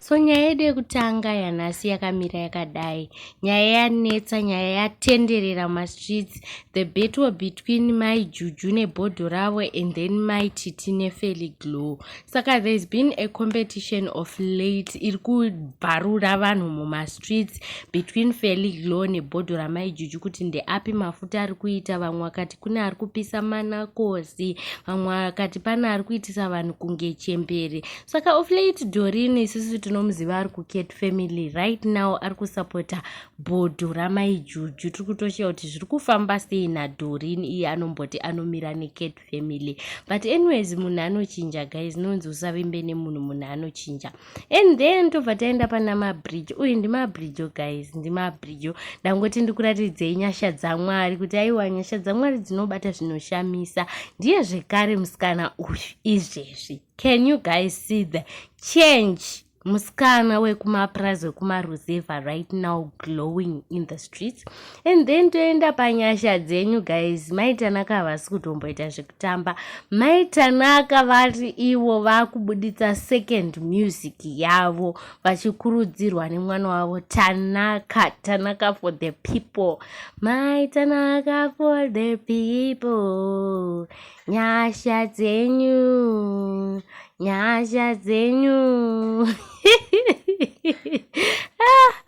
so nyaya yedu yekutanga yanhasi yakamira yakadai nyaya yanetsa nyaya yatenderera mumastreets the battle between mai juju nebhodho ravo and then mai titi nefely glow saka there's been a competition of late iri kubvarura vanhu mumastreets between fely glow nebhodho ramai juju kuti ndeapi mafuta ari kuita vamwe vakati kune ari kupisa manakosi vamwe vakati pane ari kuitisa vanhu kunge chembere saka of late dorin isusu tinomuziva ari kucat family right now ari kusapota bhodho ramai juju tiri kutoshaya kuti zviri kufamba sei nadorin iye anomboti anomira necat family but anyways munhu anochinja guys nonzi usavimbe nemunhu munhu anochinja and then tobva taenda pana mabridge uyu ndimabridge guys ndimabridge ndangoti ndikuratidzei nyasha dzamwari kuti aiwa nyasha dzamwari dzinobata zvinoshamisa ndiye zvekare musikana uyu izvezvi Can you guys see the change? Muskana wekumapurazi wekumaruzevha right now glowing in the streets. And then toenda panyasha dzenyu guys. Mai Tanaka havasi kutomboita zvekutamba. Mai Tanaka vari ivo vakubuditsa second music yavo vachikurudzirwa nemwana wavo Tanaka. Tanaka for the people. Mai Tanaka for the people. nyasha dzenyu nyasha dzenyu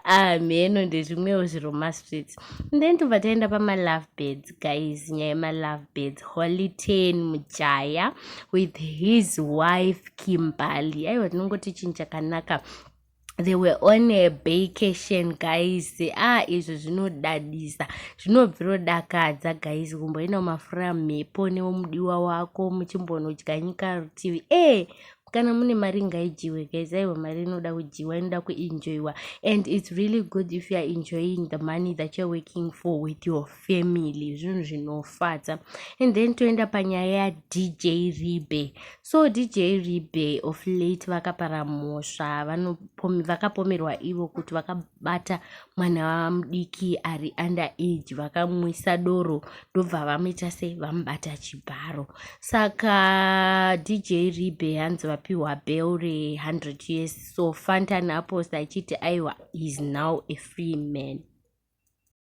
ah, amheno ndezvimwewo zviro mastreets then tobva taenda pamalove beds guys nyaya yemalove beds holy ten mujaya with his wife kimbali aiwa tinongoti chinhu chakanaka they were on a vacation guys ah izvo zvinodadisa zvinobvirodakadza guys kumboina mafura mhepo newomudiwa wako muchimbonodya nyika rutivi e kana mune mari ngaijiwe guys aiwa mari inoda kujiwa inoda kuenjoyiwa and its really good if youare enjoying the money that youare working for with your family zvinhu zvinofadza and then toenda panyaya yadj ribe so dj ribe of late vakapara mhosva vakapomerwa ivo kuti vakabata mwana vamudiki ari under age vakamwisa doro ndobva vamuita se vamubata chibharo saka dj ribe hanzi vapiwa bel re 100 years so fantan aposta achiti aiwa is now a free man